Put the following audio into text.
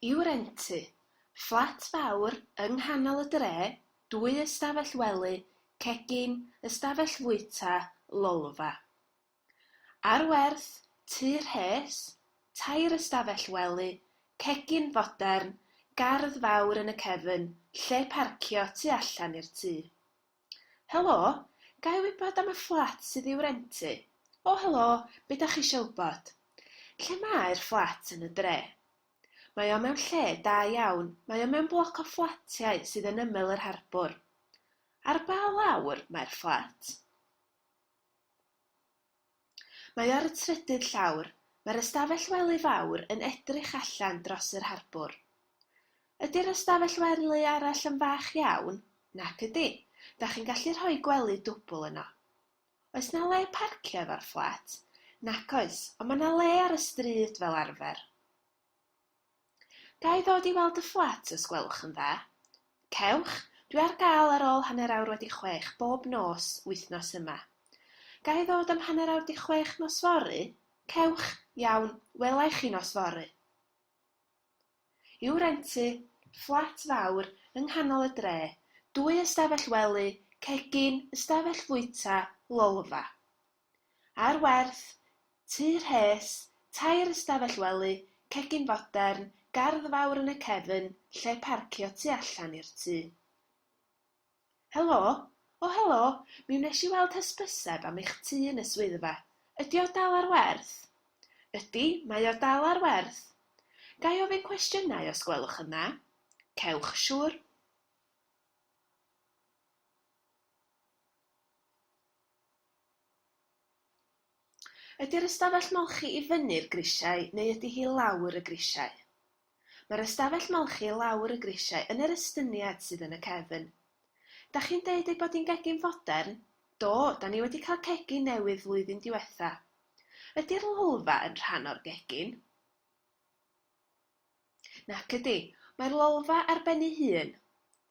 I'w rentu, fflat fawr yng nghanol y dre, dwy ystafell wely, cegin, ystafell fwyta, lolfa. Ar werth, tŷ rhes, tair ystafell wely, cegin fodern, gardd fawr yn y cefn, lle parcio tu allan i'r tŷ. Helo, ga i wybod am y fflat sydd i'w rentu? O helo, be da chi isio wybod? Lle mae'r fflat yn y dre? Mae o mewn lle da iawn, mae o mewn bloc o fflatiau sydd yn ymyl yr harbwr. Ar ba lawr mae'r fflat? Mae ar y trydydd llawr, mae'r ystafell wely fawr yn edrych allan dros yr harbwr. Ydy'r ystafell wely arall yn fach iawn? Nac ydy, dach chi'n gallu rhoi gwely dwbl yno. Oes 'na le parcio efo'r fflat? Nac oes, ond mae 'na le ar y stryd fel arfer. Ga i ddod i weld y fflat os gwelwch yn dda? Cewch, dwi ar gael ar ôl hanner awr wedi chwech bob nos wythnos yma. Ga i ddod am hanner awr 'di chwech nos fory? Cewch, iawn, wela i chi nos fory. I'w rentu, fflat fawr, yng nghanol y dre, dwy ystafell wely, cegin, ystafell fwyta, lolfa. ar werth, tŷ rhes, tair ystafell wely, cegin fodern, gardd fawr yn y cefn, lle parcio tu allan i'r tŷ. Helo? O helo, mi wnes i weld hysbyseb am eich tŷ yn y swyddfa. Ydy o dal ar werth? Ydy, mae o dal ar werth. Ga i ofyn cwestiynau os gwelwch yn dda? Cewch, siŵr. Ydy'r ystafell molchi i fyny'r grisiau neu ydy hi lawr y grisiau? Mae'r ystafell molchi lawr y grisiau yn yr estyniad sydd yn y cefn. Dach chi'n deud ei bod hi'n gegin fodern? Do, da ni wedi cael cegin newydd flwyddyn diwetha. Ydy'r lolfa yn rhan o'r gegin? Nac ydy, mae'r lolfa ar ben ei hun.